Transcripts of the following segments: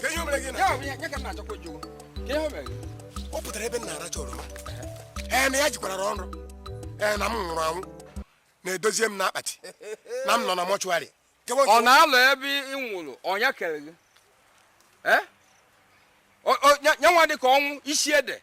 Kee ihe o mere gị na- Ya bụ ya- ya ka m na-achọkwa ịjụ. Kee ihe o mere gị? ọ pụtara ebe m na-aracha oroma ee na ya jikwara nrọ ee na m nwụrụ anwụ na e dozie m n'akpati na m nọ na mọchụarị ọ na-alọ ebe ị nwụrụ onye kere gị Eh? O- o- nya- nyanwa dị ka ọnwụ isi ede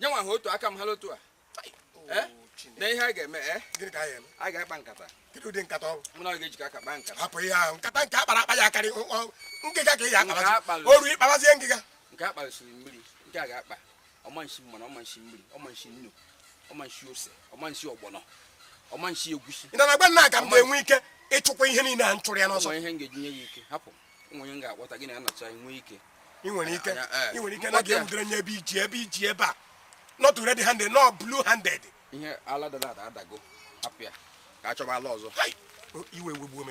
nye nwa ha otu aka m ha lotu a eh? na ihe a ga-eme eh? a ga-akpa nkata mụ na ọ ga-ejikọ aka kpaa nkata hapụ ihe ahụ nkata nke a kpara akpa ya akarị ngịga ka ị ya akpabazi oru ịkpabazie ngịga nke a kpasiri mmiri nke a ga-akpa ọmanshi mmanụ ọmanshi mmiri ọmanshi nnu ọmanshi ose ọmanshi ọgbọnọ ọmanshi egwusi ị na-agba nna aka m ga-enwe ike ịchụkwa ihe niile a m chụrụ ya n'ọsọ ihe m ga-eji nye ya ike hapụ m onye m ga-akpọta gị na anọcha nwee ike ị nwere ike ị nwere ike na a ga-enwudere nye ebe iji ebe iji ebe a not red handed no blue handed ihe ala dada ada adago hapụ ya ka a chọba ala ọzọ iwe wegbuo m